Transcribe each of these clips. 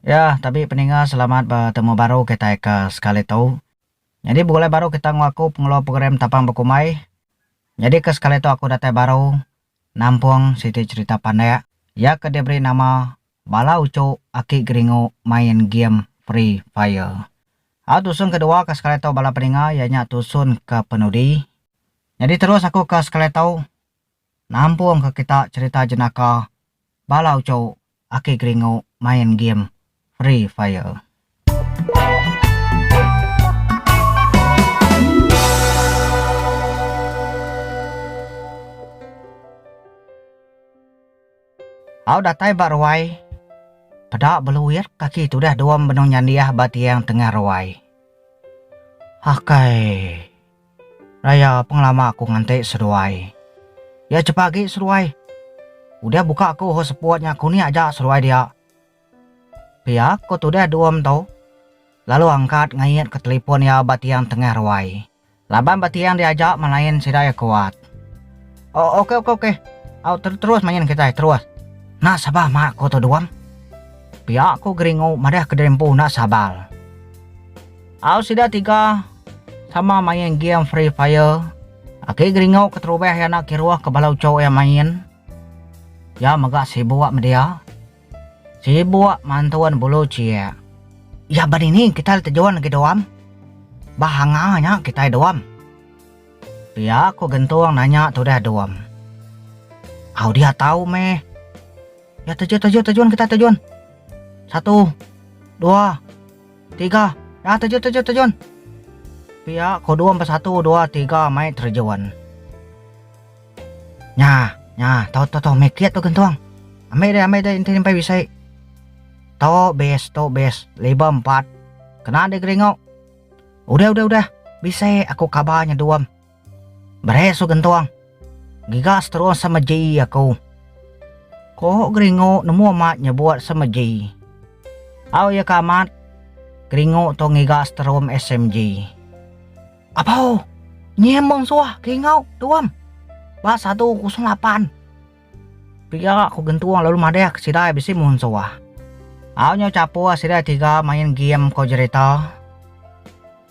Ya, tabi peninga selamat betemu baru kitai ke sekali tu. Nyadi begulai baru kita enggau aku pengeluar program Tapang Bekumbai. Nyadi ke sekali tu aku datai baru nampung siti cherita pandak iya ke diberi nama Bala Uchu Aki Geringu Main Game Free Fire. Au tusun ke dua ke sekali tu bala peninga iya nya tusun ke penudi. Nyadi terus aku ke sekali tu. Nampungka kita cherita jenaka bala uchu aki geringu main game Free Fire. Au datai ba ruai, peda beluit kaki tudah dua benung nyandih ba tiang tengah ruai. Akai. Daya pengelama aku nganti seduai. Iya chepa agi seduai. Udah buka aku hot spot nya kuni aja seduai dia. Pia ko tudah dua mentu. Lalu angkat ngait ke telipon iya ba tiang tengah ruai. Laban ba tiang diaja malain sida iya kuat. Oh ok ok ok. Au terus main kitai terus. Enda sabar mak ko tu duam. Pia ko geringu madah ke diri empu enda sabar. Au sida tiga sama main game free fire. Aki Geringau keterubah iya anak kiruh ke bala uchu iya main. Iya mega sibuk meh dia. Sibuk mantun bulu chie. Iya ba dini kitai le tejun agi doam? Ba hanga nya kitai doam. Pia ku Gentung nanya tudah doam. Au dia tau meh. Iya tejun tejun tejun kitai tejun. Satu. Dua. Tiga, dah terjun terjun terjun. Pia kodom bersatu dua tiga mai terjun. Nya, nya, to to to mai kit tu gentung. Ambil deh ambil deh enti nyampai bisi. To best to best leba empat. Kena deh geringau. Udah udah udah. Bisi aku kabar nya duam. Berai su gentung. Ngiga seterung sama ji aku. Ko Geringu nemu amat nyebut sama ji. Au iya ka amat. Geringu tu ngiga seterum SMG. Abau! Nyie mung suah ke ingau, Tuam. Ba satu kosong lapan. Pia ko gentung lalu madah ke sida bisi mung suah. Au nyau chapur sida tiga main game ko jerita.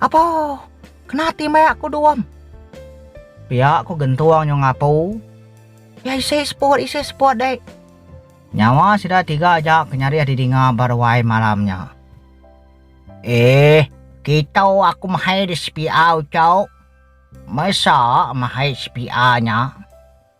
Apo! Kena ati meh aku Duam. Pia ku gentung nyau ngapu. Pia isi seput, isi seput dek. Nyawa sida tiga aja ke nyarih didinga ba ruai malam nya. Eeh, kitu aku mahai di spia uchauk. Mesa mahai spia nya.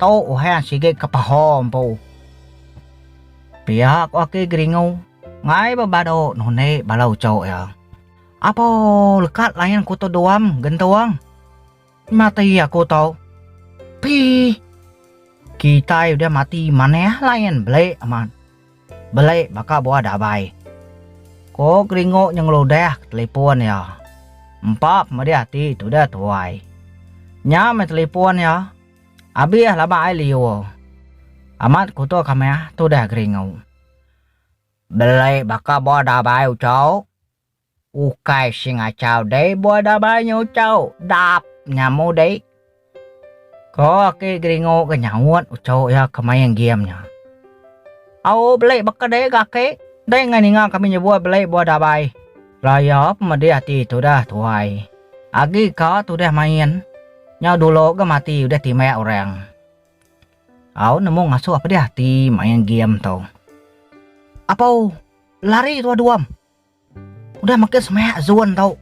Tu uhan sigi ke paha empu. Pia ko aki Geringu ngai bebadu nundi bala uchu iya. Apo lekat lain ku tu Duam gentung. Mati aku tu. Pih. Kitai udah mati manah lain beli amat. Beli baka buah dabai. Ko Gringo nyengeludah ke telipon iya. Empa pemedih ati tudah tuai. Nya meh telipon iya. Abih laba ai liur. Amat kuto ka meh tudah Gringo. Beli baka buah dabai ucok. Ukai si ngachau deh bua dabai nya ucau dap nya mudi. Ko aki Geringo ke nyaut ucau iya ke main game nya. Au beli baka deh ga aki, deh enggau ninga kami nyebut beli bua dabai. Lah iya pemedih ati tudah tuai. Agi ka tudah main. Nyau dulu ga mati udah timbak orang. Au nemu ngasuh pedih ati main game tu. Apau lari tuah duam. Udah makin semak zon tu.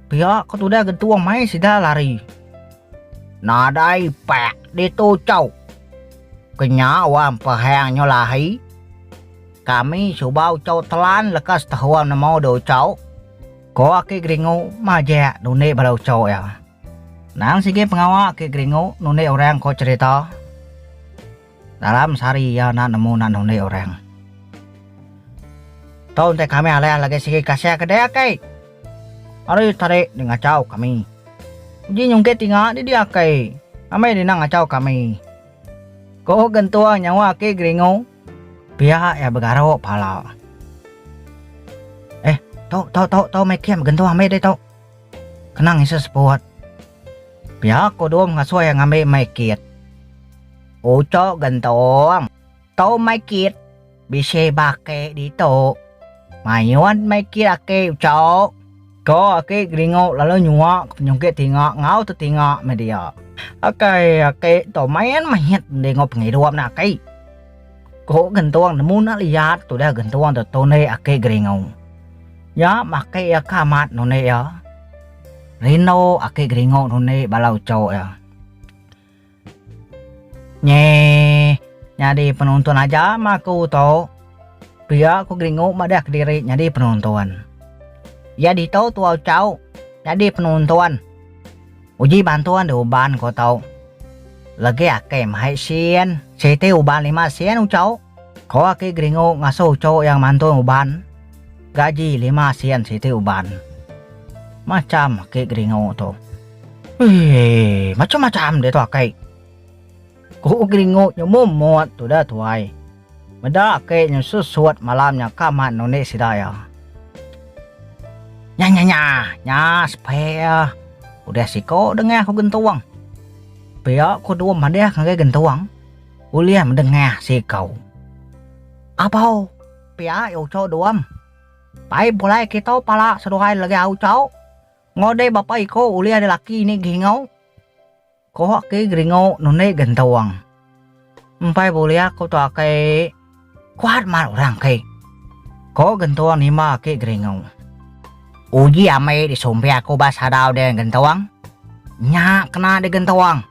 Pia ke tudah gentung mai sida lari. Nadai pak ditu cau. Kenya wang pehang nyo lahi. Kami suba ucau telan leka setahun nemu dua ucau, ko aki Geringu majak nundi bala ucau iya. Nang sigi pengawa aki Geringu nundi orang ko cerita. Dalam sehari iya enda nemu nak nundi orang. Tau enti kami alih alagi sigi kasih ke dia akai. Ari tadi dia ngachau kami. Uji nyungkit tinga di dia akai. Amai dina ngachau kami. Ko gentua nyawa aki geringu. Pia iya begaru pala. Eh tu tu tu tu meh kem gentua ambi deh tu. Kena ngisah seput. Pia ko dom ngasoi ngambi meh kit. Uco gentung. Tau mai kit. Bisi ba aki ditu. Mayuh mai kit aki uco. Ko aki Geringu lalu nyua ke penyungkit tinga enggau tetinga meh dia. Akai aki tu main mehit enggau pengidup enda aki. Ko gentung nemu enda liat tudah gentung tu tunik aki Geringu. Nya meh aki iya ke amat nunik iya. Rindu aki Geringu nunik bala uco iya. Nyeh. Nyadi penonton aja meh aku tu. Pia ku Gringo madah kediri nyadi penonton. Iya ditu tua uchauk nyadi penonton. Uji bantuan di uban ku tu. Legi ake mahai sin, siti uban lima sin uchauk. Ko aki Geringu ngasuh ucho iya ngemantung uban, gaji lima sen siti uban. Macham aki Geringu tu. Eii, macham-macham ditu aki. Ku Geringu nyumum mut tuda tuai. Meda aki nyu susut malam nya ka mat nundi sida iya. Nya-nya-nya, nya spare udah siko dengah ku Gentung. Pia ku Dum madah ngagai Gentung. Ulih mdengah siku. Abau pia i uco duam. Pai pulai kitu pala seduai legi au uco. Ngodi bapa iku ulih di laki ni geringu. Kuh ki geringu nundi gentung. Mpai bulih aku tu aki kuat mat urang ki. Ko gentung nima aki geringu. Uji ambi di sumpi aku ba sadau di gentung. Nya kena di gentung.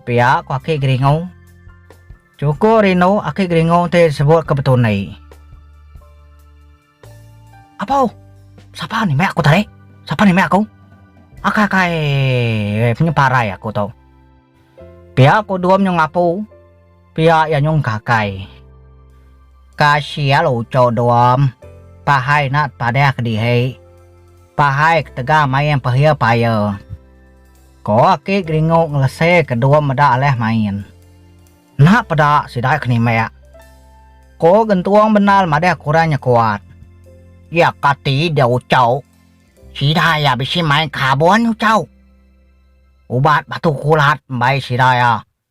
Pia ko aki geringu. Chuku rindu aki geringu ti sebut ke betundi. Apo? Sapa ni meh aku tadi? Sapa ni meh aku? Akai-akai weh punya parai aku tu. Pia ko Dum nyung ngapu. Pia iya nyung kakai. Kasia lucu Dum. Pahai nat padah ke dihi. Pahai ketegal main pehia paya. Ko aki Geringu ngelese ke dua meda alih main. Enda peda sida ke nimbak. Ko Gentung bendar madah kurang nya kuat. Iya kati dia Uchau. Sida iya bisi main kabon Uchau. Ubat batu kulat mbai sida iya.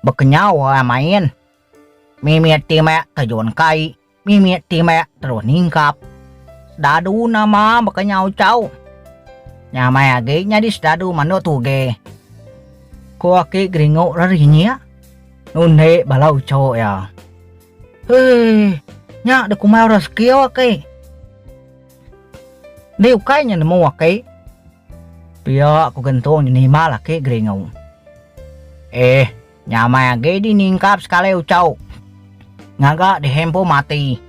Bekenyau ai main. Mimit ti mek terjun kai, mimit ti mek terus ningkap. Sedadu nama bekenyau chau. Nya meh agi nyadi sedadu manduk tuge. Ku aki Geringu rerinyik nundi bala uchuk iya. Hei, nya dikumbai orang sekiu aki. Ndi ukai nya nemu aki. Pia ku Gentung dinimal aki Geringu. Eh, nyamai agi diningkap sekali uchu. Ngaga dihempu mati.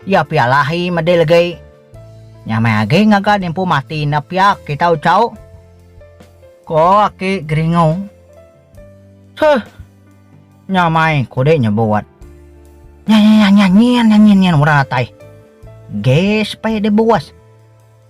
Iya pia lah ahi medil agi. Nyamai agi ngaga dimpu mati enda pia kita uchu. Ko aki Geringu. Seh. Nyamai kudi nyebut. Nyanyanyanyinyin nyin ura atai. Gas peh dibuas.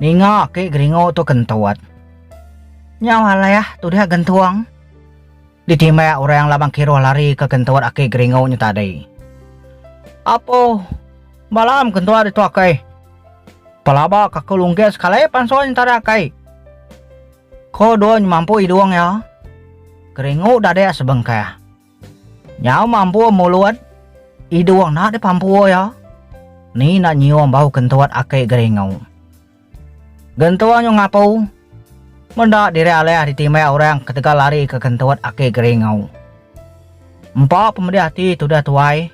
Ninga aki geringu tu kentut. Nyau alai ah tudiak gentung. Ditimbak orang labang kiruh lari ke kentut aki geringu nya tadi. Apo bala am kentut ditu aki. Pelaba kaku lunggis sekali pansut nya tadi aki. Ko Duny mampu idung iya. Geringu dadik sebengkah. Nyau mampur mulut. Idung enda deh pampur iya. Ni enda nyium bau kentut aki Geringu. Gentung nyu ngapu. Meda diri alih ditimbai orang ketegal ari ke kentut aki Geringu. Empa pemedih ati tudah tuai.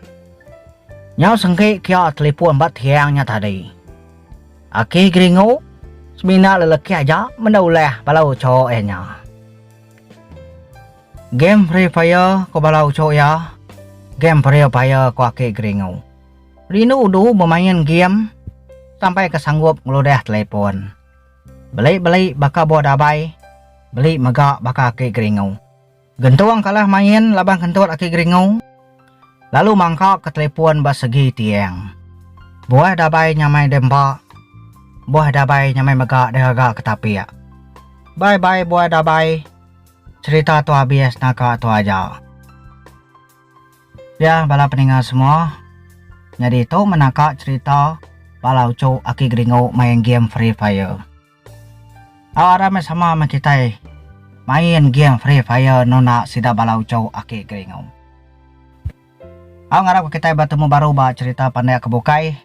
Nyau sengki kia telipun ba tiang nya tadi. Aki Geringu, semina lelaki aja meda ulih bala ucho iya nya. Game Free Fire ko bala uchu iya. Game Free Fire ko aki Gringu. Rindu du bemain game sampai ke sanggup ngeludah telepon. Beli-beli baka buah dabai, beli mega baka aki Gringu. Gentung kalah main laban kentut aki Gringu lalu mangka ke telepon ba segi tiang. Buah dabai nyamai dempa, buah dabai nyamai mega diraga ke tapik. Bye-bye buah dabai. Cerita tu abis naka tu aja. Ya bala peninga semua, nyadi tu meh naka cerita bala uchu aki geringu main game free fire. Au arai meh sama meh kitai main game free fire nuna sida bala uchu aki geringu. Au ngarapka kitai betemu baru ba cherita Pandai ke Bukai.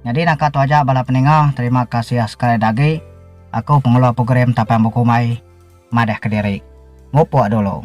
Nyadi naka tu aja bala peninga, terima kasih sekalida agi. Aku pengeluar program Tapang Bekumbai madah ke diri. Mupuk dulu.